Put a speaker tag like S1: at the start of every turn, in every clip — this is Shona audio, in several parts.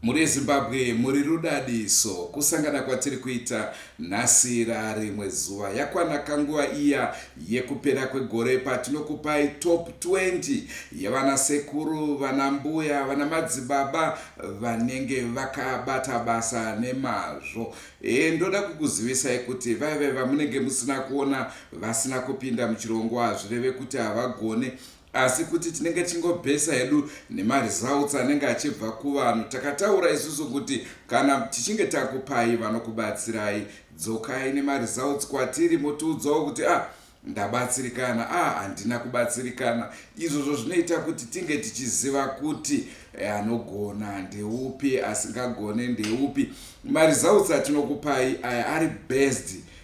S1: Mhuri yeZimbabwe muri rudadiso. Kusangana kwatiri kuita nhasi rarimwe zuva. Yakwana kanguva iya yekupera kwegore patinokupai top 20 yevana sekuru, vana mbuya, vana madzibaba vanenge vakabata basa nemazvo. E, ndoda kukuzivisai kuti vaive vamunenge musina kuona vasina kupinda muchirongwa hazvireve kuti havagone asi kuti tinenge tichingobhesa hedu nemaresults anenge achibva kuvanhu takataura isusu kuti kana tichinge takupai vanokubatsirai dzokai nemaresults kwatiri motiudzawo kuti ah ndabatsirikana ah handina kubatsirikana izvozvo zvinoita kuti tinge tichiziva kuti eh, anogona ndeupi asingagone ndeupi maresults atinokupai aya ari based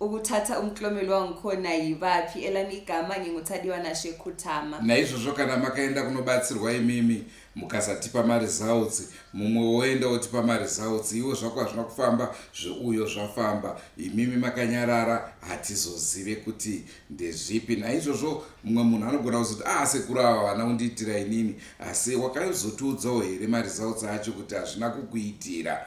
S2: ukuthatha umklomelo wangikhona yibaphi elami igama nginguthadiwa nashe khuthama naizvozvo kana
S1: makaenda kunobatsirwa imimi mukasatipa maresults mumwe woenda wotipa maresults iwo zvako hazvina kufamba zveuyo zvafamba imimi makanyarara hatizozive kuti ndezvipi naizvozvo mumwe munhu anogona kuzoti ah sekuru ava vana undiitira inini asi wakazotiudzawo here maresults acho kuti hazvina kukuitira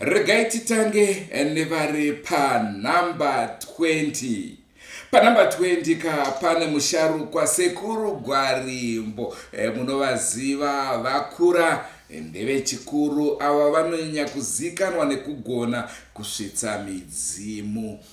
S1: Regai titange nevari panhamba 20. Panhamba 20 ka pane musharukwa sekuru Gwarimbo e, munovaziva vakura eh, ndevechikuru ava vanonyanya kuzikanwa nekugona kusvitsa midzimu.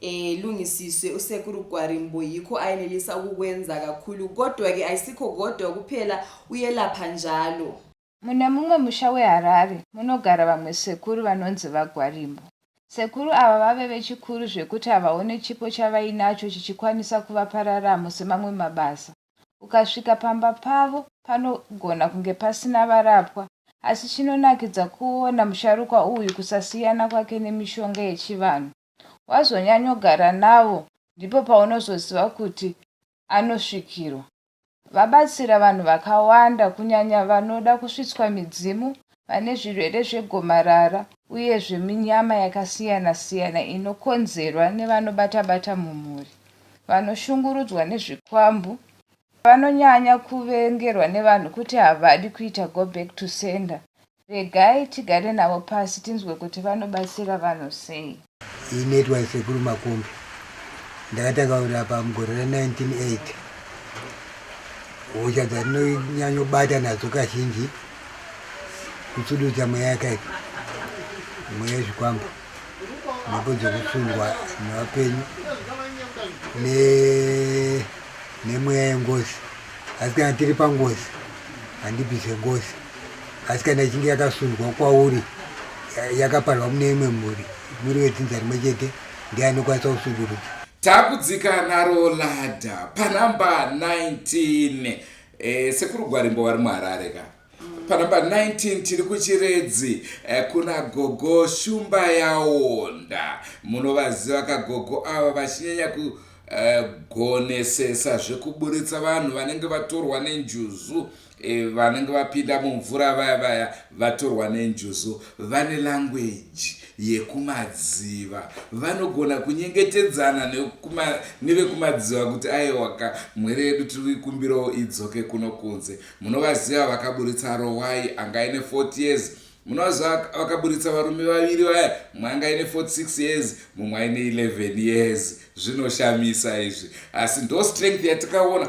S2: eh lungisiswe usekuru Gwarimbo yikho ayenelisa ukukwenza kakhulu kodwa ke ayisikho kodwa kuphela uyelapha njalo Mune mumwe
S3: musha weHarare munogara vamwe sekuru vanonzi vaGwarimbo. Sekuru ava vave vechikuru zvekuti havaone chipo chavainacho chichikwanisa kuvapa raramo semamwe mabasa. Ukasvika pamba pavo panogona kunge pasina varapwa asi chinonakidza kuona musharukwa uyu kusasiyana kwake nemishonga yechivanhu. wazonyanyogara navo ndipo paunozoziva kuti anosvikirwa vabatsira vanhu vakawanda kunyanya vanoda kusvitswa midzimu vane zvirwere zvegomarara uye zveminyama yakasiyana siyana inokonzerwa nevanobata bata mumhuri vanoshungurudzwa nezvikwambu vanonyanya kuvengerwa nevanhu kuti havadi kuita go back to sender Regai tigare navo pasi tinzwe kuti vanobatsira vanhu sei. Ini naitwa
S4: Sekuru Makumbi ndakatanga kurapa mugore ra 1980 hosha dzandinonyanyobata nadzo kazhinji kutsududza mweya yakaipa mweya yezvikwambo mhepo dzokusundwa nevapenyu nemweya yengozi asi kana tiri pangozi handibvise ngozi asi kana ichinge yakasundwa kwauri yakaparwa mune imwe mhuri muri wedzinza rimwe chete ndiye anokwanisa kusundurudza takudzika
S1: naro ladha panumber 19 eh, sekuru gwarimbo vari muharare ka panumber 19 tiri kuchiredzi eh, kuna gogo shumba yaonda munovaziva kagogo ava vachinyanya kugonesesa eh, zvekuburitsa vanhu vanenge vatorwa nenjuzu E, vanenge vapinda mumvura vaya vaya vatorwa nenjuzu vane langweji yekumadziva vanogona kunyengetedzana nevekumadziva kuti aiwaka mwere yedu tiri kuikumbirawo idzoke kuno kunze munovaziva vakaburitsa rowai anga ine 40 years munovaziva vakaburitsa varume vaviri vaya mumwe anga ine 46 years mumwe aine 11 years zvinoshamisa izvi asi ndo strength yatakaona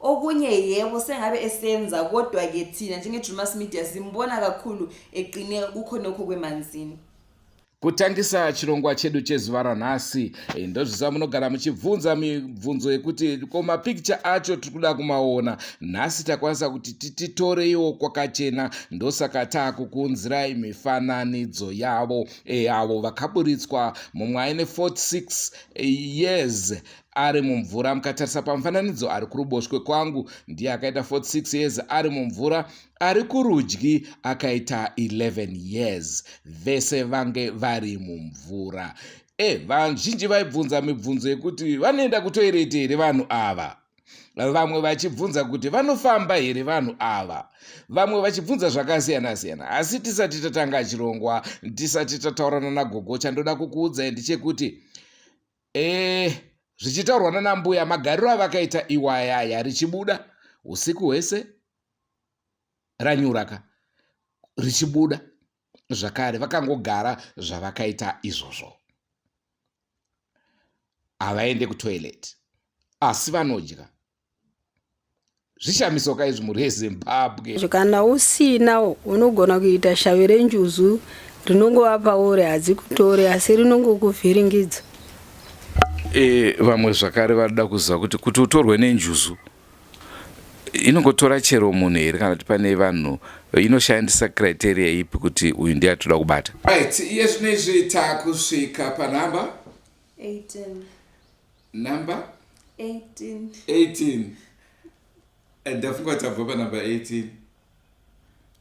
S2: Okunye yebo sengabe esenza kodwa ke thina njenge Drewmas Media simbona kakhulu eqine kukhonokho kwemanzini. Kutangisa
S1: chirongwa chedu chezuva ranhasi eh, ndozvisa munogara muchibvunza mibvunzo yekuti ko mapikicha acho tiri kuda kumaona nhasi takwanisa kuti tititoreiwo kwakachena ndosaka taakukuunzirai mifananidzo yavo eh, avo vakaburitswa mumwe aine 46 eh, years ari mumvura mukatarisa pamufananidzo ari kuruboshwe kwangu ndiye akaita 46 years ari mumvura ari kurudyi akaita 11 years vese vange vari mumvura e eh, vazhinji vaibvunza mibvunzo yekuti vanoenda kutoireti here vanhu ava vamwe vachibvunza kuti vanofamba here vanhu ava vamwe vachibvunza zvakasiyana-siyana asi tisati tatanga chirongwa tisati tataurana nagogo chandoda kukuudzai ndechekuti ee zvichitaurwa nanambuya magariro avakaita iwayaya richibuda usiku hwese ranyuraka richibuda zvakare vakangogara zvavakaita izvozvo havaende kutoilet asi vanodya zvishamiso ka izvi mhuri yezimbabwe kana usina
S5: unogona kuita shavi renjuzu rinongova pauri hadzi kutore asi rinongokuvhiringidza e,
S1: vamwe zvakare vanoda kuziva kuti kuti utorwe nenjuzu inongotora chero munhu here kana kuti pane vanhu inoshandisa criteria ipi kuti uyu ndiye atoda kubata right iye zvino izvi takusvika panhamba
S2: 18
S1: number 18 18 and ndafunga tabva panumber 18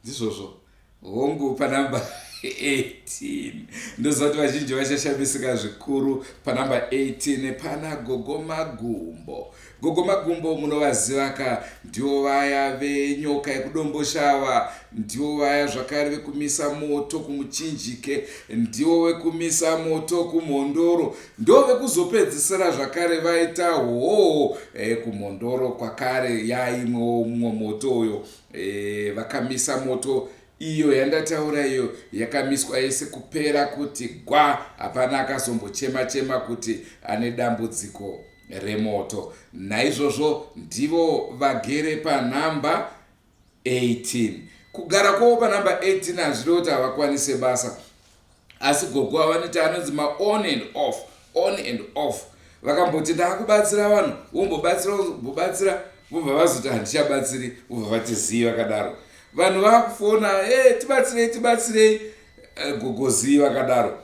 S1: ndizvozvo hongu panumber 18 ndoziva kuti vazhinji vachashamisika zvikuru panumber 18 pana gogo magumbo gogo magumbo munovaziva ka ndivo vaya venyoka yekudomboshawa ndivo vaya zvakare vekumisa moto kumuchinjike ndivo vekumisa moto kumhondoro Ndove kuzopedzisira zvakare vaita hoo e, kumhondoro kwakare yaimwewo mumwe moto uyo e, vakamisa moto iyo yandataura iyo yakamiswa yese kupera kuti gwa hapana akazombochema chema kuti ane dambudziko remoto naizvozvo ndivo vagere panhamba 18 kugara kwavo panumber 18 hazvirevo kuti havakwanise basa asi gogo avanoita anonzi maon and off on and off vakamboti ndaakubatsira vanhu vombobatsira vombobatsira vobva vazoti handichabatsiri vobva vati zii vakadaro vanhu vakufona e eh, tibatsirei tibatsirei eh, gogo zii vakadaro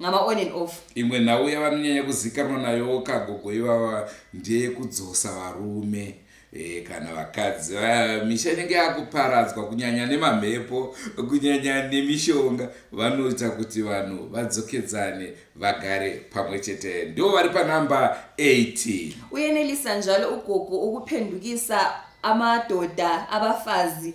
S2: Ngama on and off. Imwe nhau yavanonyanya
S1: kuzikanwa nayowo ka gogo ivava ndeyekudzosa varume. Eh, kana vakadzi vaya misha inenge yakuparadzwa kunyanya nemamhepo kunyanya nemishonga vanoita kuti vanhu vadzokedzane vagare pamwe chete ndo vari panumber 80 uyenelisa njalo
S2: ugogo ukuphendukisa amadoda abafazi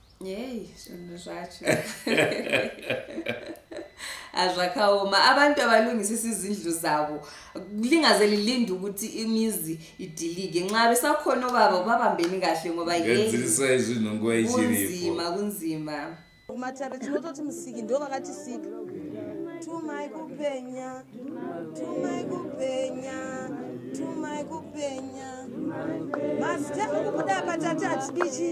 S1: yei
S2: zvinhu zvacho hazvakaoma ah, abantu abalungisisa izindlu zabo lingaze lilinde ukuthi imizi idilike nxa besakhona obaba ubabambeni kahle ngoba
S1: kunzima kunzima
S2: kumatare
S6: tinototi musiki ndo vakatisika tumai kupenya tumai kupenya tumai kupenya mazita ekubuda patati hatidichi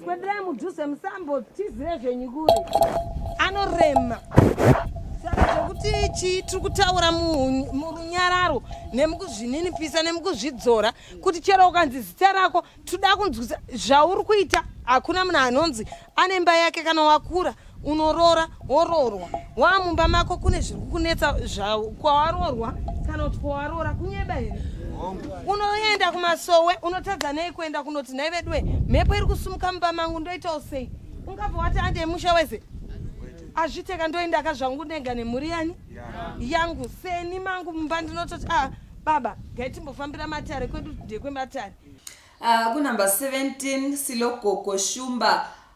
S6: Kwenderai mudhuze musambo tizire zvenyu kuri. Anorema. Saka zvekuti chii tiri kutaura murunyararo nemukuzvininipisa nemukuzvidzora kuti chero ukanzi zita rako tiri kuda kunzwisa zvauri kuita hakuna munhu anonzi anemba yake kana wakura unorora woroorwa waamumba mako kune zviri kukunetsa kwawarorwa kana kuti kwawaroora kunyeba here unoenda kumasowe unotadza nei kuenda kunoti nhai veduwe mhepo iri kusumuka mumba mangu ndoitawo sei ungabva wati andei musha wese azviteka ndoendaka zvangu ndenga nemhuri yani yangu seni mangu mumba ndinototi a ah, baba gaitimbofambira matare kwedu ndekwematare ah,
S2: kunumber 17 silogogo shumba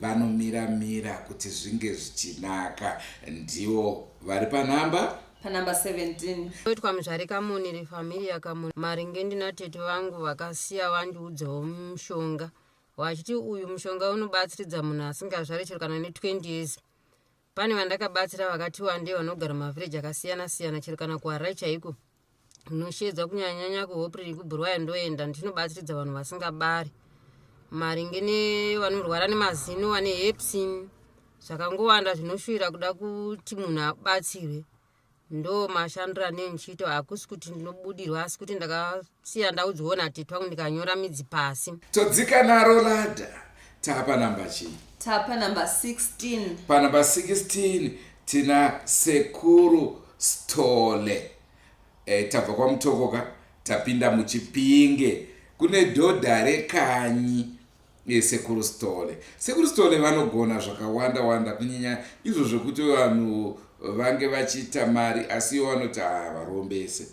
S1: vanomira mira kuti zvinge zvichinaka ndiwo vari panhamba panumber
S2: 17 oitwa muzvare
S7: kamoni refamilia kamoni maringe ndinatete vangu vakasiya vandiudzawo mushonga wachiti uyu mushonga unobatsiridza munhu asingazvare chero kana ne 20 years Pane vandakabatsira vakati wandei vanogara mavhiriji akasiyana siyana chero kana kuHarare chaiko ndinoshedza kunyanyanya kuHopriri kuBurwayo ndoenda ndinobatsiridza vanhu vasingabari maringe nevanorwara nemazino vane hepsin zvakangowanda zvinoshuvira kuda kuti munhu abatsirwe ndo mashandiro anee ndichiita hakusi kuti ndinobudirwa asi kuti ndakasiya ndaudzwawo natetwa kuti ndikanyora midzi pasi todzika naro
S1: ladha tapa namba chii tapa namba 16
S2: panamba 16
S1: tina sekuru stole e, tabva kwamutokoka tapinda muchipinge kune dhodha rekanyi Ye sekuru stole sekuru stole vanogona zvakawanda wanda kunyanya izvo zvekuti vanhu vange vachiita mari asi iwo vanoti havarombese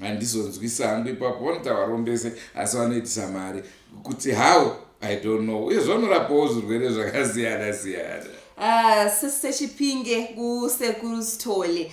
S1: handizonzwisa hangu ipapo vanoti havarombese asi vanoitisa mari kuti how i don't know uye zvavanorapawo zvirwere zvakasiyana siyana Ah,
S2: sisechipinge kusekuru stole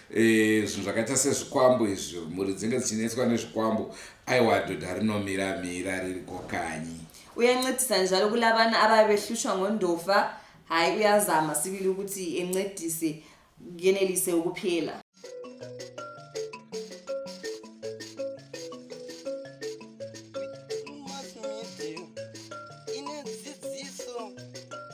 S1: Eh, zvinhu zvakaita sezvikwambo izvi mhuri dzinge dzichinetswa nezvikwambo aiwa dhodha rinomira mira ririko kanyi uyancedisa
S2: njalo kula vana avave vehlushwa ngondofa hayi uyazama sibili ukuthi encedise yenelise ukuphela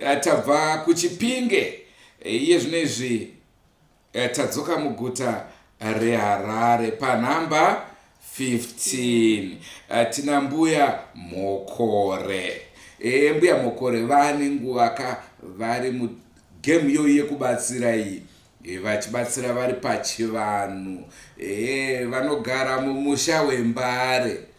S1: Eh, tabva kuchipinge eh, iye zvino izvi eh, tadzoka muguta reharare panhamba 15 tina mbuya mokore e, mbuya mokore vane nguva ka vari mugemu iyoyi yekubatsira iyi e, vachibatsira vari pachivanhu e, vanogara mumusha wembare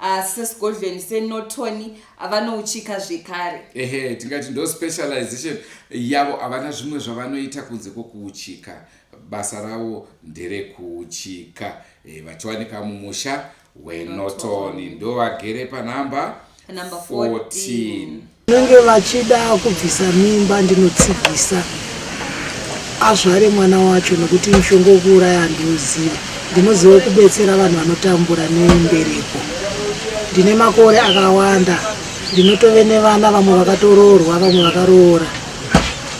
S2: asi sesigodlweni senotoni vanouchika zvekare ehe tingati ndo
S1: specialization yavo havana zvimwe zvavanoita kunze kwokuuchika basa ravo nderekuuchika e, vachiwanika mumusha wenotoni ndo vagere panhamba Number 14. 14 Vanenge
S6: vachida kubvisa mimba ndinotsigisa azvare mwana wacho nokuti mushonga wekuuraya handioziva ndinoziva kubetsera vanhu vanotambura nembereko ndine makore akawanda ndinotove nevana vamwe vakatoroorwa vamwe vakaroora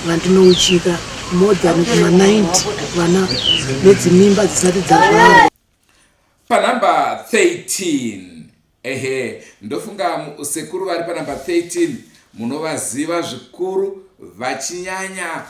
S6: vandinouchika more than kuma90 vana nedzimimba dzisati dzazvarwa panumber
S1: 13 Ehe ndofunga sekuru vari panumber 13 munovaziva zvikuru vachinyanya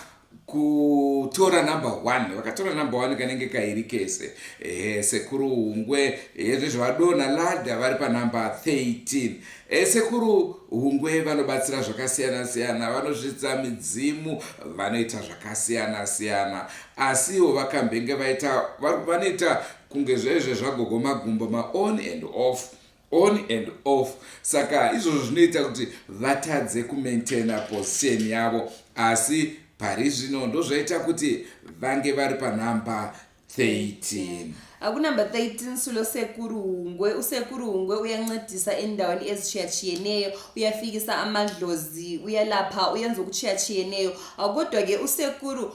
S1: kutora number one vakatora number one kanenge kairi kese ehe sekuru hungwe hezve zvavadona ladha vari panumber 13 e sekuru hungwe vanobatsira zvakasiyana siyana vanozvidza midzimu vanoita zvakasiyana siyana asiwo vakambenge vaita vanoita kunge zvaizve zvagogo magumbo maon and off on and off saka izvozvo zvinoita kuti vatadze kumaintaina position yavo asi pari zvino ndozvaita kuti vange vari panhamba 13 akunumber
S2: 13 sulo sekuru hungwe usekuru hungwe uyancedisa endaweni ezishiyachiyeneyo uyafikisa amadlozi uyalapha uyenza ukuchiyachiyeneyo akodwa ke usekuru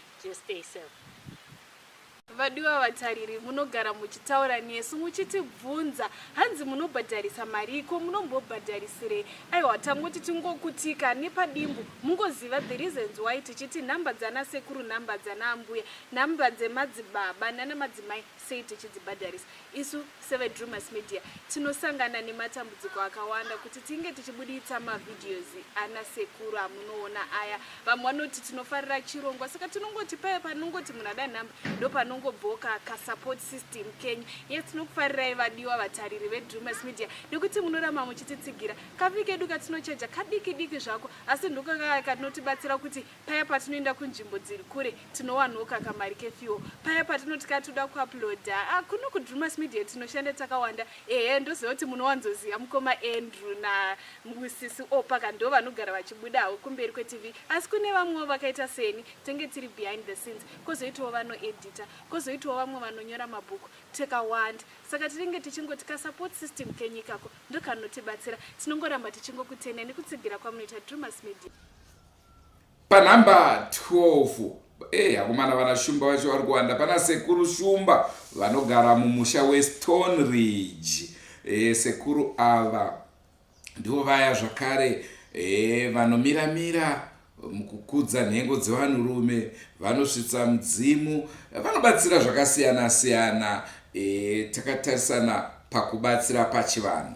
S8: Just stay safe.
S9: Vadiwa vatariri munogara muchitaura nesu muchitibvunza hanzi munobhadharisa marii ko munombobhadharisirei aiwa tangoti tingokutika nepadimbu mungoziva the reasons why tichiti nhamba dzana sekuru nhamba dzana ambuya nhamba dzemadzibaba nana madzimai Sei tichidzibhadharisa? Isu seveDrewmas Media tinosangana nematambudziko akawanda kuti tinge tichibuditsa mavideos ana sekuru amunoona aya. Vamwe vanoti tinofarira chirongwa saka tinongoti paya panongoti munhu ada nhamba ndopanongobvawo kasupport system kenyu. Yes, tinokufarirai vadiwa vatariri veDrewmas Media nekuti munoramba muchititsigira. Kafi kedu katinochaja kadiki diki zvako asi ndokakaya katinotibatsira kuti paya patinoenda kunzvimbo dziri kure tinowanwo kakamari kefiwo paya patinoti ka toda kuaploda ah, kuno kudrumas media tinoshanda takawanda ehe ndoziva kuti munowanzoziva mukoma andrew namusisi opaka ndo vanogara vachibudawo kumberi kwetv asi kune vamwewo vakaita seni tenge tiri behind the scenes kozoitawo vanoedita kozoitawo vamwe vanonyora mabhuku takawanda saka tinenge tichingoti kasupport system kenyikako ndokanotibatsira tinongoramba tichingokutenai nekutsigira kwamunoita drumas media Panhamba 12
S1: Hey, eh, akomana vana shumba vacho vari kuwanda pana sekuru shumba vanogara mumusha westone ridge e, sekuru ava ndivo vaya zvakare e, vanomiramira mukukudza nhengo dzevanhurume vanosvitsa mudzimu vanobatsira zvakasiyana siyana e, takatarisana pakubatsira pachivanhu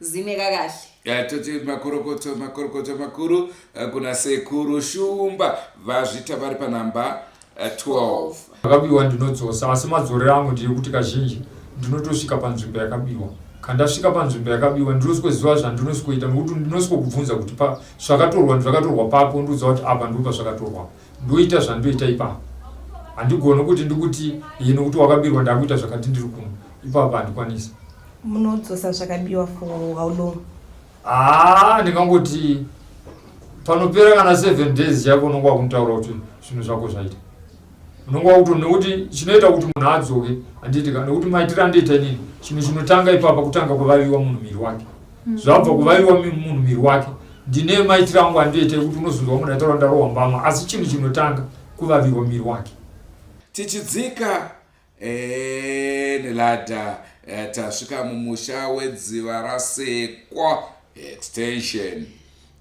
S2: zine kakahle Ya, toti makorokoto
S1: makorokoto makuru eh, kuna sekuru shumba vazvita vari panhamba eh, 12 akabiwa
S10: ndinodzosa asi madzorero angu ndeyekuti kazhinji ndinotosvika panzvimbo yakabiwa kandasvika panzvimbo yakabiwa ndinosikoziva zvandinosikoita nokuti ndinosiko kubvunza kuti pa zvakatorwa zvakatorwa papo ndoziva kuti apa ndipo pazvakatorwa ndoita zvandoita ipapo handigoni kuti ndikuti iye nokuti wakabirwa ndakuita zvakati ndiri kuno ipapo handikwanisa munodzosa
S6: zvakabiwa for how long haa ah, ndingangoti
S10: panopera kana seven days yako unonga wakuntaura kuti zvinhu zvako zvaita unonga wakuto nekuti chinoita kuti munhu adzoke handiti ka nekuti maitiro andoita inini chinhu chinotanga ipapa kutanga kuvaviwa munhu miri wake zvabva kuvaiwa munhu miri wake ndine maitiro angu andiitei kuti unozonzwa munhu aitaura ndarowa mbama asi chinhu chinotanga kuvavirwa miri wake tichidzika
S1: eh, nelada eh, tasvika mumusha wedziva rasekwa extension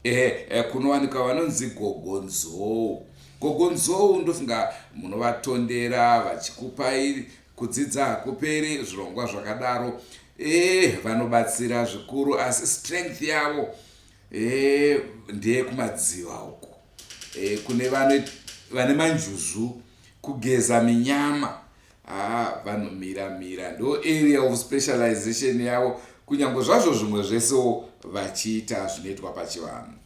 S1: eh, kunowanika vanonzi gogonzou gogonzou ndofunga munovatondera vachikupai Kudzidza hakuperi zvirongwa zvakadaro eh vanobatsira zvikuru asi strength yavo eh ndeye kumadziva uko eh kune vane vane manjuzu kugeza minyama ah vanomira mira ndo area of specialization yavo kunyange zvazvo zvimwe zvesewo vachiita zvinoitwa pachivanhu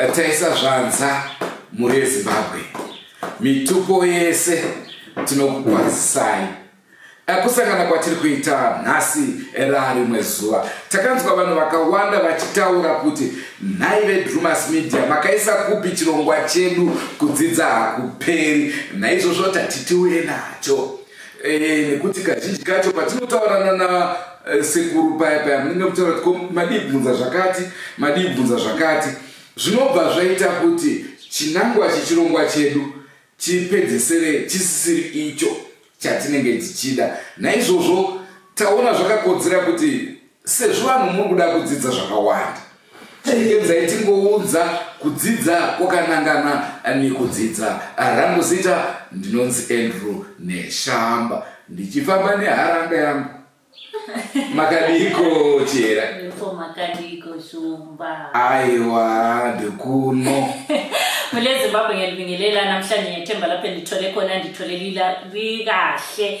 S1: eh, taisa zvanza mhuri yezimbabwe mitupo yese tinokukwazisai eh, kusangana kwatiri kuita nhasi era rimwe zuva takanzwa vanhu vakawanda vachitaura kuti nhai vedrumas media makaisa kupi chirongwa chedu kudzidza hakuperi naizvozvo tatitiuye nacho Eh, nekuti kazhinji kacho patinotaurana na eh, sekuru paya paya munenge mutaura kuti ko madii kubvunza zvakati madii kubvunza zvakati zvinobva zvaita kuti chinangwa chechirongwa chedu chipedzesere chisisiri icho chatinenge tichida naizvozvo taona zvakakodzera kuti Sezvo vanhu muri kuda kudzidza zvakawanda, chekedzai tingounza kudzidza kwakanangana nekudzidza. Rangu zita ndinonzi Andrew Neshamba, ndichifamba neharanga yangu. Makadiko chera? Ndipo makadiko
S8: shumba. Aiwa,
S1: ndikuno. Mule
S8: Zimbabwe ngelibingelela namhlanje ngethemba lapho ndithole khona ndithole lila likahle.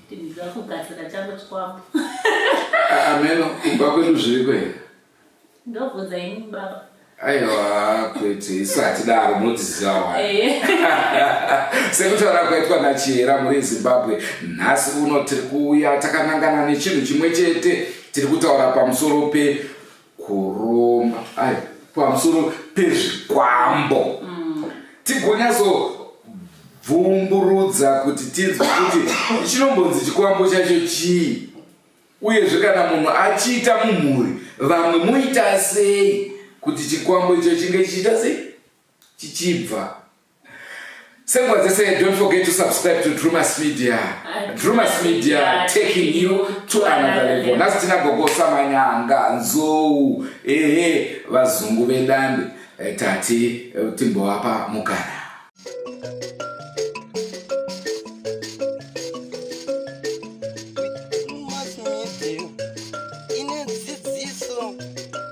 S8: Tinzwa kugadzira changu chikwambo.
S1: Ameno kumba kwedu zviriko here? Ndobvunza
S8: ini baba. Aiwa
S1: kwete isati daro munodziziva wani. Eh. Sekutaura kwaitwa naChihera muri Zimbabwe nhasi uno tiri kuuya takanangana nechinhu chimwe chete tiri kutaura pamusoro pe kuromba ai pamusoro pezvikwambo mm. tigonyaso bvumburudza kuti tinzwe kuti chinombonzi chikwambo chacho chii uyezve kana munhu achiita mumhuri vamwe muita sei kuti chikwambo icho chinge chichiita sei chichibva Senguva dzese don't forget to subscribe to Drewmas Media. Drewmas Media taking you to another level. Nhasi tina gogo Samanyanga, Nzou, ehe vazungu vedande eh, tati eh, timbovapa mukana.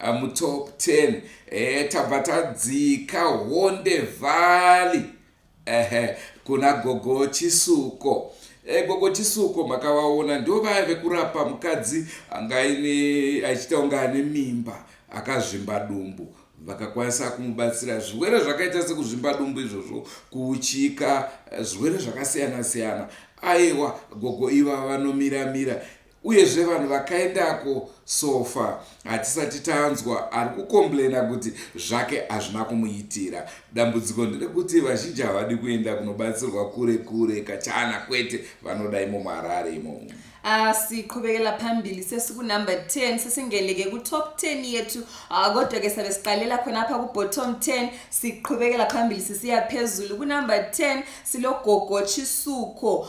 S1: uh, mutop 10 uh, eh, tabva tadzika honde valley uh, kuna gogo chisuko eh, gogo chisuko makavaona ndo vaya vekurapa mukadzi anga aine achiita kunge ane mimba akazvimba dumbu vakakwanisa kumubatsira zvirwere zvakaita sekuzvimba dumbu izvozvo kuuchika eh, zvirwere zvakasiyana siyana aiwa gogo iva vanomiramira uyezve vanhu vakaendako sofa hatisati tanzwa ari kukomplaina kuti zvake hazvina kumuitira dambudziko nderekuti vazhinji havadi kuenda kunobatsirwa kure kure kachana kwete vanoda imo muharare imomo asiqhubekela
S2: ah, phambili sesikunumber 10 sesingeleke kutop 10 yethu ah, kodwa ke sabe siqalela khona apha kubottom 10 siqhubekela phambili sisiya phezulu kunumber 10 silogogo chisuko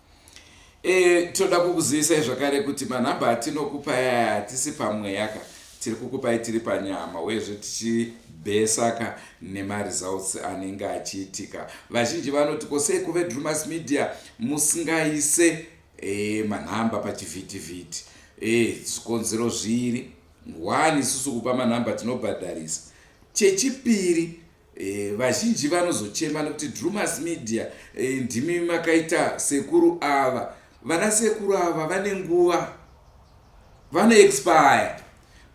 S2: E,
S1: tinoda kukuzivisai zvakare kuti manhamba atinokupa yaya hatisi pamweya ka tiri kukupai tiri panyama uyezve tichibhesaka nemaresults anenge achiitika vazhinji vanoti ko sei kuvedrumas media musingaise e, manhamba pachivhitivhiti e, zvikonzero zviri one isusu kupa manhamba tinobhadharisa chechipiri E, vazhinji vanozochema nekuti Drewmas Media e, ndimi makaita sekuru ava. Vana sekuru ava vane nguva, vano expire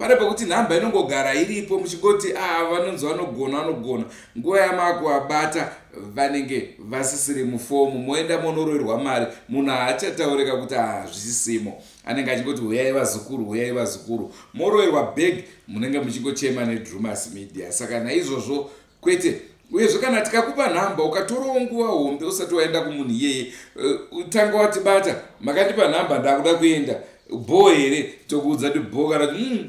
S1: pane pekuti nhamba inongogara iripo muchingoti a ah, vanonzi vanogona vanogona nguva yamakuabata vanenge vasisiri mufomu moenda monoroirwa mari munhu haachataurika kuti hazvisisimo ah, anenge achingoti huyai vazukuru huyai vazukuru moroirwa bag munenge muchingochema nedrumas media saka naizvozvo kwete uyezve kana tikakupa nhamba ukatorawo nguva hombe usati waenda kumunhu iyeye uh, tanga watibata makandipa nhamba ndakuda kuenda bho here tokuudza kuti bho kana kuti mm,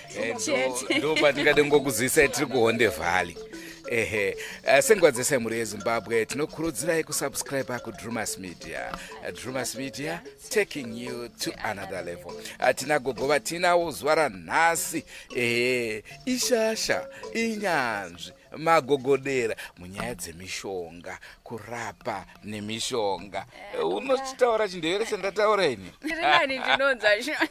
S9: Eh,
S1: chete ndo patingade ngokuzivisai tiri kuhonde valley ehe Eh, senguva dzese mhuri yezimbabwe tinokurudzirai kusubscribe kudrumas media Eh, drumas media taking you to another level Eh, tina gogo vatinawo zuva ranhasi ehe ishasha inyanzvi magogodera munyaya dzemishonga kurapa nemishonga Eh, unochitaura chindevere chandataura ini Ndiri nani ndinonzwa
S9: zvinhu.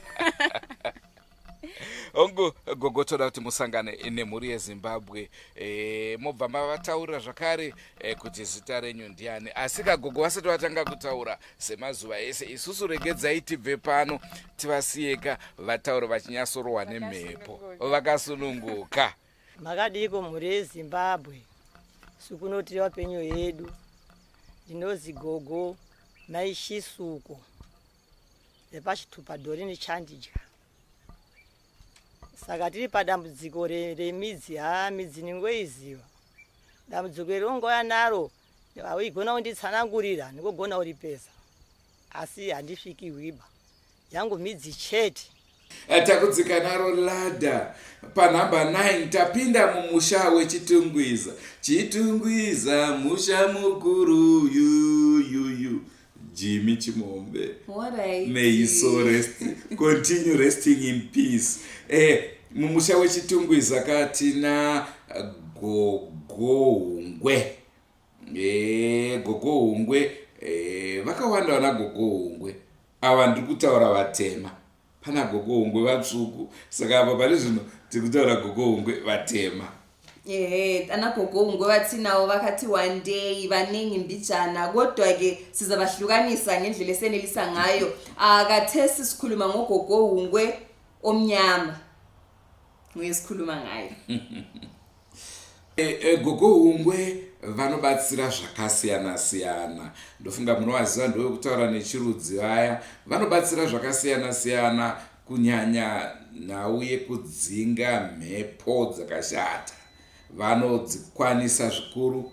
S1: hongu gogo toda kuti musangane nemhuri yezimbabwe e, mobva mavataurira zvakare e, kuti zita renyu ndiani asi kagogo vasati vatanga kutaura semazuva ese isusu regedzai tibve pano tivasiyeka vatauro vachinyatsorohwa nemhepo vakasununguka makadiiko
S6: mhuri yezimbabwe sukunotiri vapenyu yedu ndinozi gogo maishisuko repachitupa dori nechandidya
S11: saka tiri padambudziko remidzi ha midzi ningoiziva dambudziko iri ongouya naro vaigona kunditsanangurira ndingogona kuripesa asi handisviki hwiba yangu midzi chete Eh, takudzika
S1: naro ladha panhamba 9 tapinda mumusha wechitungwiza chitungwiza musha mukuru uyuyuyu jimi chimombe meisorest continue resting in peace eh, mumusha wechitungwiza katina gogohungwe eh, gogohungwe eh, vakawanda vana gogohungwe Ava ndiri kutaura vatema. Pana gogo hungwe vatsvuku saka apa pane zvino tiri kutaura gogo hungwe vatema. Ehe,
S2: ana gogo hungwe vatinawo vakati wandei vanengi mbijana kodwa ke sizabahlukanisa ngendlela esenelisa ngayo. Ah, kathesi sikhuluma ngogogo hungwe omnyama. uye sikhuluma ngayo eh, eh,
S1: gogo hungwe vanobatsira zvakasiyana siyana ndofunga munovaziva ndovekutaura nechirudzi vaya vanobatsira zvakasiyana siyana kunyanya nhau yekudzinga mhepo dzakashata vanodzikwanisa zvikuru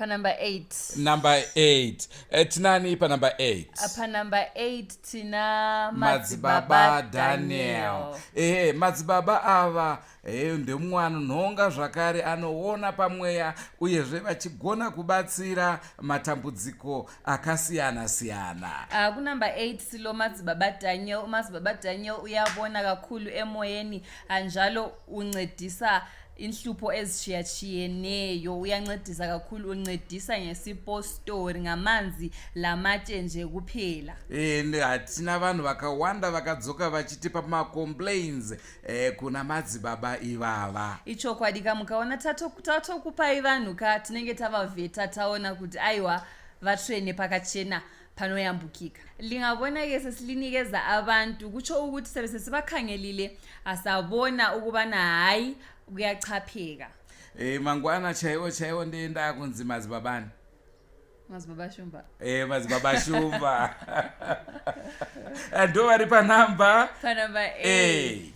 S1: panumber 8 number 8 uh, eh, tinani panumber 8 ah, panumber 8
S2: tina madzibaba
S1: daniel ehe madzibaba ava e, ndemumwe anonhonga zvakare anoona pamweya uyezve vachigona kubatsira matambudziko akasiyana siyana uh, kunumber
S2: 8 silo madzibaba daniel madzibaba daniel uyavona kakulu emoyeni anjalo uncedisa inhlupho ezishiyatshiyeneyo uyancedisa kakhulu uncedisa ngesipostori ngamanzi lamatshe nje kuphela and eh, hatina
S1: vanhu vakawanda vakadzoka vachitipa macomplains eh, kuna madzibaba ivava ichokwadi ka mukaona
S2: tatokupai vanhu ka tinenge tavavheta taona kuti aiwa vatsvene pakachena panoyambukika lingabona ke sesilinikeza abantu kutsho ukuthi sebe sesibakhangelile asabona ukubana hayi kuyachapheka Eh mangwana
S1: chaiwo chaiwo ndoenda kunzi madzibabani. Madzibaba
S2: Shumba. Eh madzibaba
S1: Shumba. Ndo vari pa number pa number 8.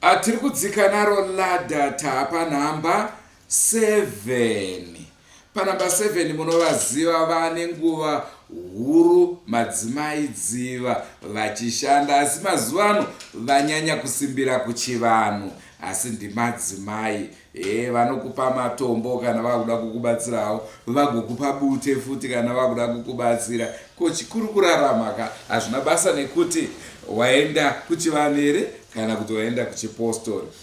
S2: Ah
S1: tiri kudzika naro ladder tapa number 7 panamba 7 munovaziva vane nguva huru madzimai dziva vachishanda asi mazuva ano vanyanya kusimbira kuchivanhu asi ndimadzimai e vanokupa matombo kana vakuda kukubatsirawo vagokupa bute futi kana vakuda kukubatsira ko chikuru kurarama ka hazvina basa nekuti waenda kuchivanhu here kana kuti waenda kuchipostori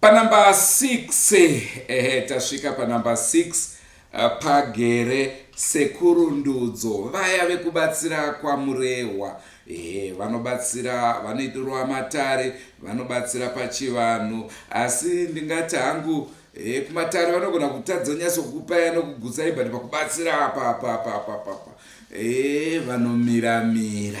S1: Panumber 6 ehe tasvika panumber 6 eh, pagere sekuru ndudzo vaya vekubatsira kwamurehwa ehe vanobatsira vanoitirwa matare vanobatsira pachivanhu asi ndingati hangu e, kumatare vanogona kutadza nyaso kukupai anokugutsai but pakubatsira apa apa apa apa apa e, vanomiramira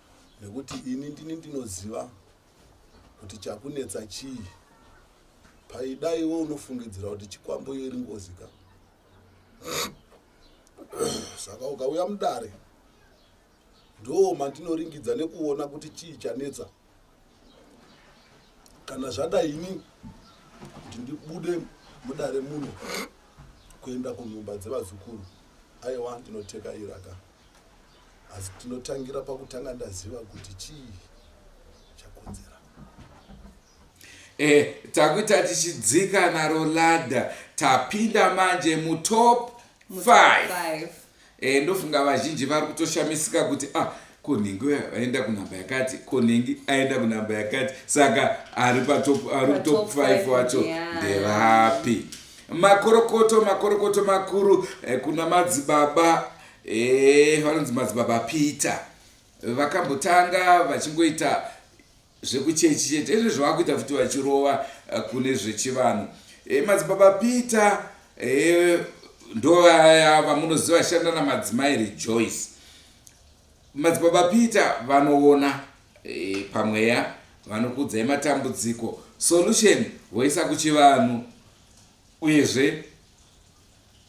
S12: nekuti ini ndini ndinoziva kuti chakunetsa chii paida iwe unofungidzira kuti chikwambo iyo iri ngozi ka saka ukauya mudare ndoo mandinoringidza nekuona kuti chii chanetsa kana zvada ini kuti ndibude mudare muno kuenda kunhumba dzevazukuru aiwa ndinoteka iraka asi tinotangira pakutanga ndaziva kuti chii chakonzera
S1: eh, takuita tichidzika naro ladha tapinda manje mutop 5 eh, ndofunga vazhinji vari kutoshamisika kuti ah, konhingi aenda kunhamba yakati konhingi aenda kunhamba yakati saka ari patop ari kutop 5 wacho ndevapi yeah makorokoto makorokoto makuru eh, kuna madzibaba Eeh vanonzi madzibaba Peter vakambotanga vachingoita zvekuchechi chete ezvo zvavakuita futi vachirova eh, kune zvechivanhu e, madzibaba peter e, eh, ndovaya vamunoziva vashanda namadzimai rejoice madzibaba peter vanoona e, pamweya vanokudzai matambudziko solution voisa kuchivanhu uyezve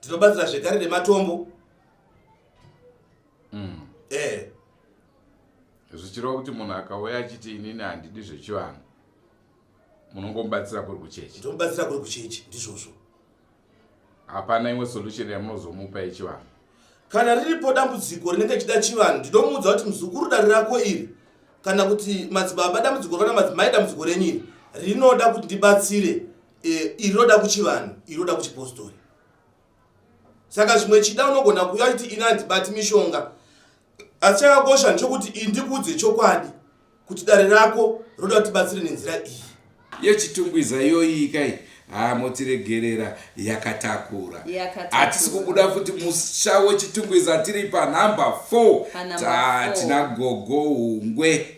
S13: tinobatsira zvekare nematombo mm.
S1: eh. zvichireva kuti munhu akauya achiti inini handidi zvechivanhu munongomubatsira kuri kuchechi ndomubatsira kuri kuchechi
S13: ndizvozvo
S1: hapana imwe solution yamunozomupa yechivanhu kana riripo
S13: dambudziko rinenge chida chivanhu ndinomuudza kuti muzukuru dare rako iri kana kuti madzibaba dambudziko rana madzimai dambudziko renyu iri rinoda kuti ndibatsire e, iri roda kuchivanhu iri roda kuchipostori saka zvimwe chida unogona kuuya kuti ini handibati mishonga asi chakakosha ndechokuti iyi ndikuudze chokwadi kuti dare rako roda kuti batsire nenzira iyi yechitungwiza
S1: iyoyi kai haa motiregerera yakatakura hatisi kubuda futi musha wechitungwiza tiri panhamba 4 tatina gogo ungwe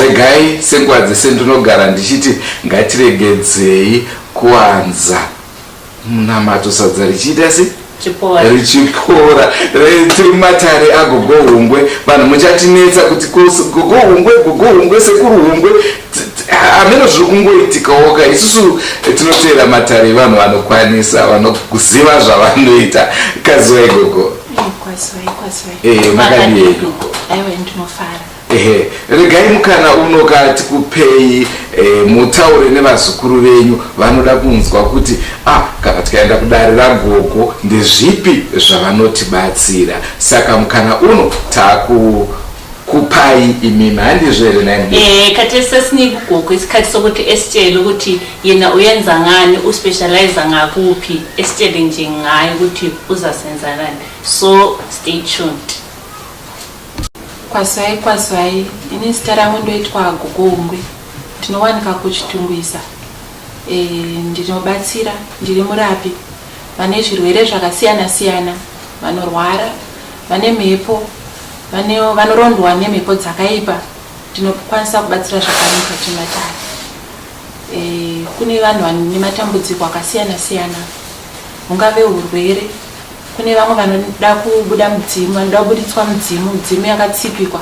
S8: regai
S1: senguva dzese ndinogara ndichiti ngatiregedzei kuwanza munamato sadza richiita sei richipora tiri mumatare agogo hungwe vanhu muchatinetsa kuti gogo hungwe gogo hungwe sekuru hungwe hameno zviri kungoitikawoka isusu tinoteera matare evanhu vanokwanisa vanoziva zvavanoita kaziwai gogo eh, makadii gogo aiwe ndinofara Ehe, regai mukana uno ka tikupei eh, mutaure nevazukuru venyu vanoda kunzwa kuti ah, kana tikaenda kudare ragogo ndezvipi zvavanotibatsira saka mukana uno taku kupai imimi handizvo here nai eh, kati sesiniki
S8: gogo isikhathi sokuthi esitshele ukuthi yena uyenza ngani uspecialize ngakupi esitshele nje ngayo ukuthi uzasenzanani so stay tuned Kwasai
S14: kwasai ini zita rangu ndoitwa Gogongwe ndinowanika kuChitungwiza e, ndinobatsira ndiri murapi vane zvirwere zvakasiyana siyana vanorwara vane mhepo vane vanorondwa nemhepo dzakaipa tinokwanisa kubatsira zvakaipa chimatare e, kune vanhu vane matambudziko akasiyana siyana hungave urwere Kune vamwe vanoda kubuda mudzimu, vanoda kubuditswa mudzimu, midzimu yakatsipikwa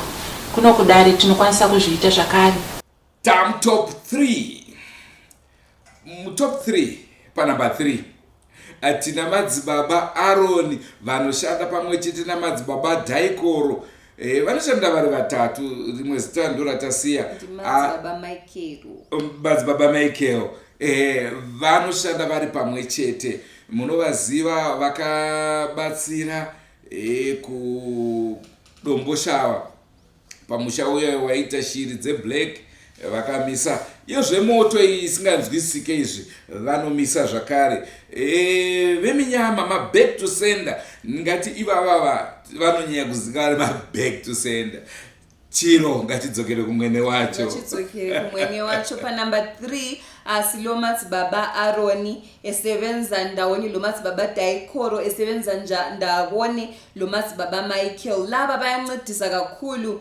S14: kuno kudare tinokwanisa kuzviita zvakare. Tam top
S1: 3 mutop 3 panumber 3 tina madzibaba aroni vanoshanda pamwe chete namadzibaba dhaikoro Eh, vanoshanda vari vatatu rimwe zita ndoratasiya madzibaba ah, michael eh, vanoshanda vari pamwe chete munovaziva vakabatsira eh, kudomboshawa pamusha uya waita shiri dzeblack vakamisa iyo zvemoto iyi isinganzwisike izvi vanomisa zvakare e, veminyama maback to sender ngati ivavava vanonyanya kuziva ari maback to sender chiro ngatidzokere kumwene wacho ngatidzokere kumwene wacho panumber
S2: 3 asi lomatsi baba aroni esevenza ndawoni lomatsi baba daikoro esevenza ndawoni lomatsi baba michael lava vayancedisa kakhulu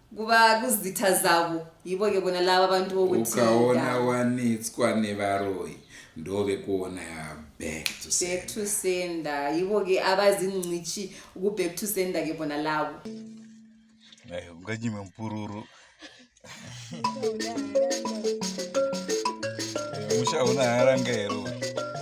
S2: kuva kuzita zavo yivo ke bona lava vantu vokuti ukaona
S1: wanetswa nevaroyi ndove kuona back to back to sender yivo
S2: ke avazi ncici uku back to sender ke bona lavo unganyime
S15: mpururu musha una haranga here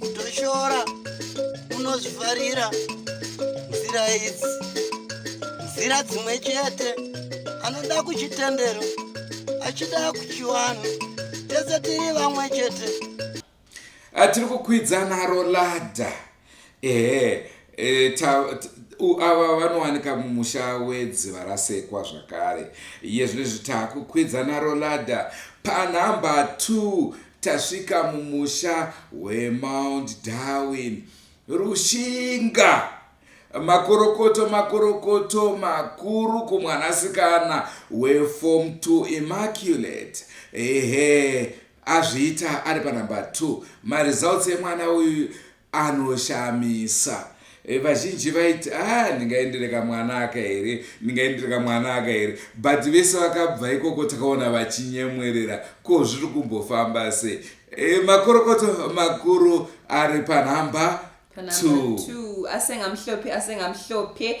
S16: kutoshora unozvifarira nzira idzi nzira dzimwe chete anoda kuchitendero achida kuchiwana tese tiri vamwe chete ah,
S1: tiri kukwidza naro ladha ehe eh, ava vanowanika mumusha wedziva rasekwa zvakare iye zvino izvi takukwidza naro ladha panhamba 2 Tasvika mumusha weMount Darwin. Rushinga! Makorokoto makorokoto makuru kumwanasikana weForm 2 Immaculate. Ehe, azviita ari panumber 2. Maresults emwana uyu anoshamisa eh, vazhinji vaiti ah ndingaendereka mwana aka here ndingaendereka mwana aka here but vese vakabva ikoko takaona vachinyemwerera ko zviri kumbofamba se e, makorokoto makuru ari panhamba asengamhlophe
S2: asengamhlophe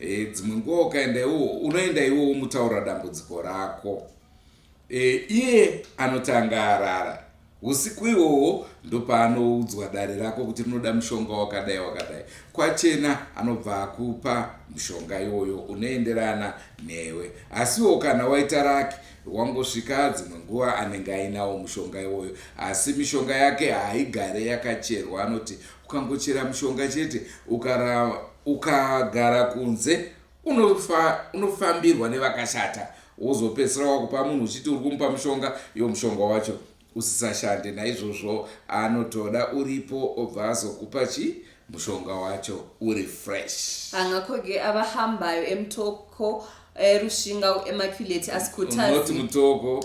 S1: e, dzimwe nguva ukaenda iwowo unoenda iwowo mutaura dambudziko rako e, iye anotanga arara usiku iwowo ndopaanoudzwa dare rako kuti rinoda mushonga wakadai wakadai kwachena anobva akupa mushonga iwoyo unoenderana newe asiwo kana waita raki wangosvika dzimwe nguva anenge ainawo mushonga iwoyo asi mishonga yake haigare yakacherwa anoti ukangochera mushonga chete ukarava ukagara kunze unofambirwa nevakashata wozopedzisira wakupa munhu uchiti uri kumupa mushonga yo mushonga wacho usisashande naizvozvo anotoda uripo obva azokupa chi mushonga wacho uri fresh angakoge
S2: avahambayo emutoko erushinga emaculate asikutati mutoko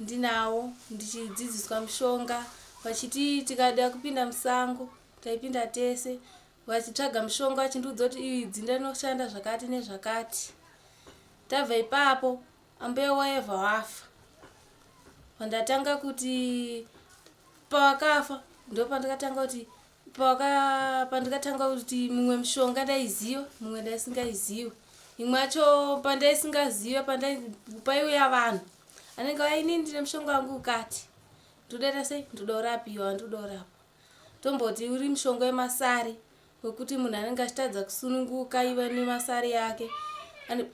S9: ndinawo ndichidzidziswa mushonga vachiti tikada kupinda musango taipinda tese vachitsvaga mushonga vachindiudza kuti iyi dzinda rinoshanda zvakati nezvakati tabva ipapo ambuya waeva wafa vandatanga kuti pavakafa ndo pandikatanga kuti paka pandikatanga kuti mumwe mushonga ndaiziva mumwe ndaisingaiziva imwe yacho pandaisingaziva pandai paiuya vanhu anenge auya inini ndine mushonga wangu ukati ndodaita sei ndoda urapiwa ndoda urapwa tomboti uri mushonga wemasari wekuti munhu anenge achitadza kusununguka iva nemasari yake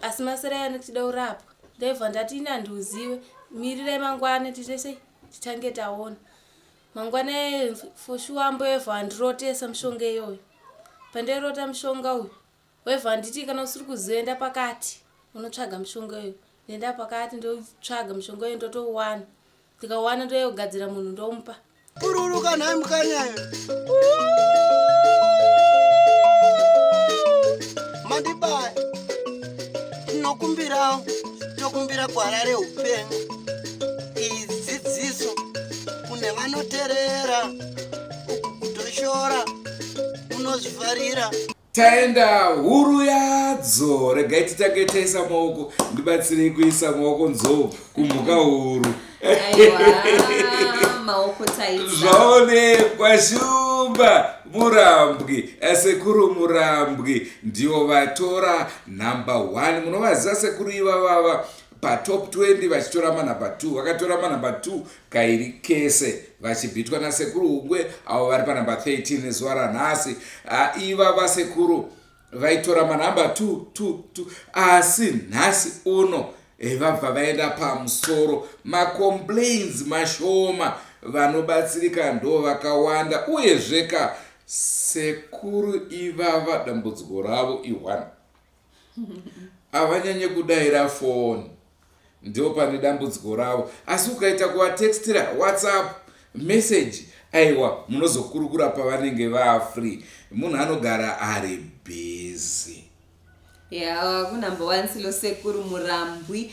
S9: asi masari ayo anenge tida urapwa ndaibva ndati ini handiuzive mirirai mangwana tiite sei tichange taona mangwana foshuwa mboyevha wandirotesa mushonga iyoyo pandairota mushonga uyu Wevha handiti kana usiri kuziva enda pakati unotsvaga mushonga uyu ndoenda pakati ndotsvaga mushonga uyu ndotouwana ndikauwana ndoyogadzira munhu ndomupa bururuka nhai
S16: mukanyayo mandibaya tinokumbirawo tokumbira gwara reupenyu idzidziso kune vanoterera uku kutoshora unozvifarira taenda
S1: huru yadzo regai titange taisa maoko ndibatsirei kuisa maoko nzou kumhuka huru
S2: zvaonekwa
S1: shumba murambwi eh, sekuru murambwi ndivo vatora number one munovaziva sekuru ivavava patop 20 vachitora manumber 2 vakatora manumber 2 kairi kese vachibhitwa nasekuru hugwe avo vari panumber 13 zuva ranhasi iva vasekuru vaitora manumber 222 asi nhasi uno eh, vabva vaenda pamusoro macomplains mashoma vanobatsirika ndo vakawanda uyezveka sekuru ivava dambudziko ravo iwana havanyanye kudaira foni ndiwo pane dambudziko ravo asi ukaita kuvatextira whatsapp message aiwa munozokurukura pavanenge vafree munhu anogara ari busy
S2: ya kunumber one silo sekuru murambwi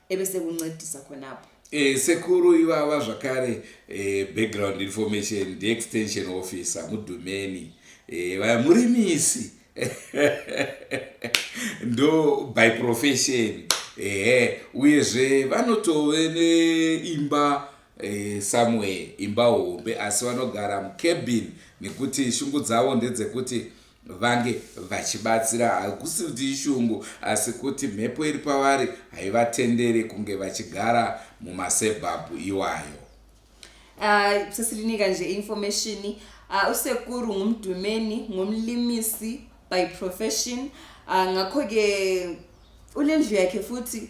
S2: eve sekuncedisa khona apo Eh, sekuru
S1: ivava zvakare eh, background information ndiextension officer mudhumeni eh, vaya murimisi ndo by profession ehe uyezve vanotove neimba eh, somewhere imba hombe asi vanogara mucabin nekuti shungu dzavo ndedzekuti vange vachibatsira hakusi kuti ishungu asi kuti mhepo iri pavari haivatendere kunge vachigara mumasebhabhu iwayo ah, sesirinika
S2: nje information ah, usekuru ngumdumeni ngumlimisi by profession ah, ngakho-ke unendlu yakhe futhi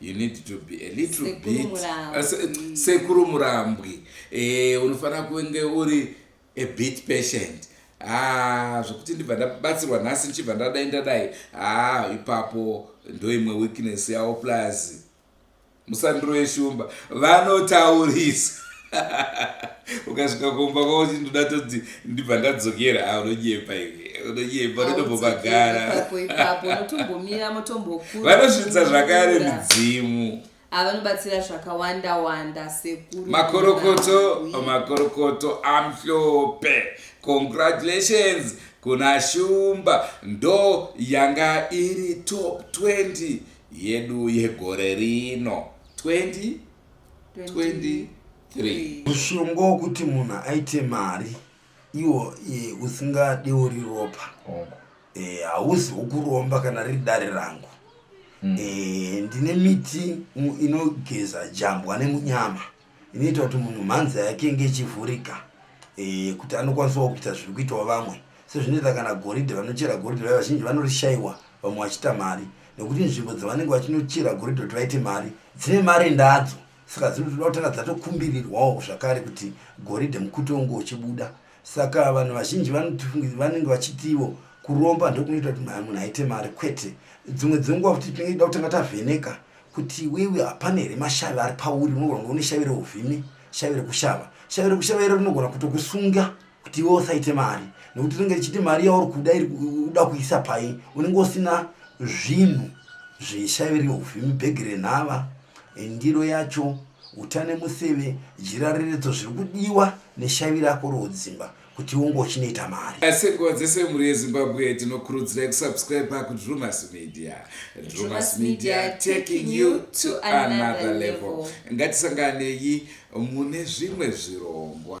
S1: you need to be a little bit uh, sekuru murambwi eh, unofanira kunge uri a bit patient ah, zvekuti ndibva ndabatsirwa nhasi ndichibva ndadai ndadai ah, ipapo ndoimwe weakness yavo plus musandiro yeshumba vanotaurisa ukasvika kumba kwavo chindoda toti ndibva ndadzokera a ah, unonyepa iwe unonyepa unotombobagara vanosvitsa zvakare midzimu avanobatsira ah,
S2: zvakawanda wanda sekuru makorokoto makorokoto
S1: amhlope congratulations kuna shumba ndo yanga iri top 20 yedu yegore rino 20 23 mushonga
S16: wokuti munhu aite mari iwo e, usingadewo riropa oh. e, hauzi wokuromba kana riri dare rangu mm. e, ndine miti inogeza jambwa nemunyama inoita kuti munhu mhanza yake inge ichivhurika e, kuti anokwanisawo kuita zviri kuitawo vamwe sezvinoita kana goridhe vanochera goridhe vaya vazhinji vanorishayiwa vamwe vachita mari nekuti nzvimbo dzavanenge vachinochera goridhe kuti vaite mari dzine mari ndadzo saka dzinotoda kutanga dzatokumbirirwawo zvakare kuti goridhe mukuto unge uchibuda saka vanhu vazhinji vanenge vachitiwo kuromba ndokunoita kuti munhu aite mari kwete dzimwe dzenguva kuti tinenge ida kutanga tavheneka kuti wewe hapana here mashavi ari pauri unogona kunge une shavi reuvhimi shavi rekushava shavi rekushava iro rinogona kutokusunga kuti iwe usaite mari nekuti rinenge richiti mari yauri kuda iri kuda kuisa pai unenge usina zvinhu zveshairi ufi mibhegi renhava ndiro yacho utane museve jira reredzo zviri kudiwa neshavi rako rodzimba kuti unge uchinoita mari asekuwa dzese mhuri
S1: yezimbabwe tinokurudzirai kusubscribe kudrumas media drumas media taking you to another level ngatisanganei mune zvimwe zvirongwa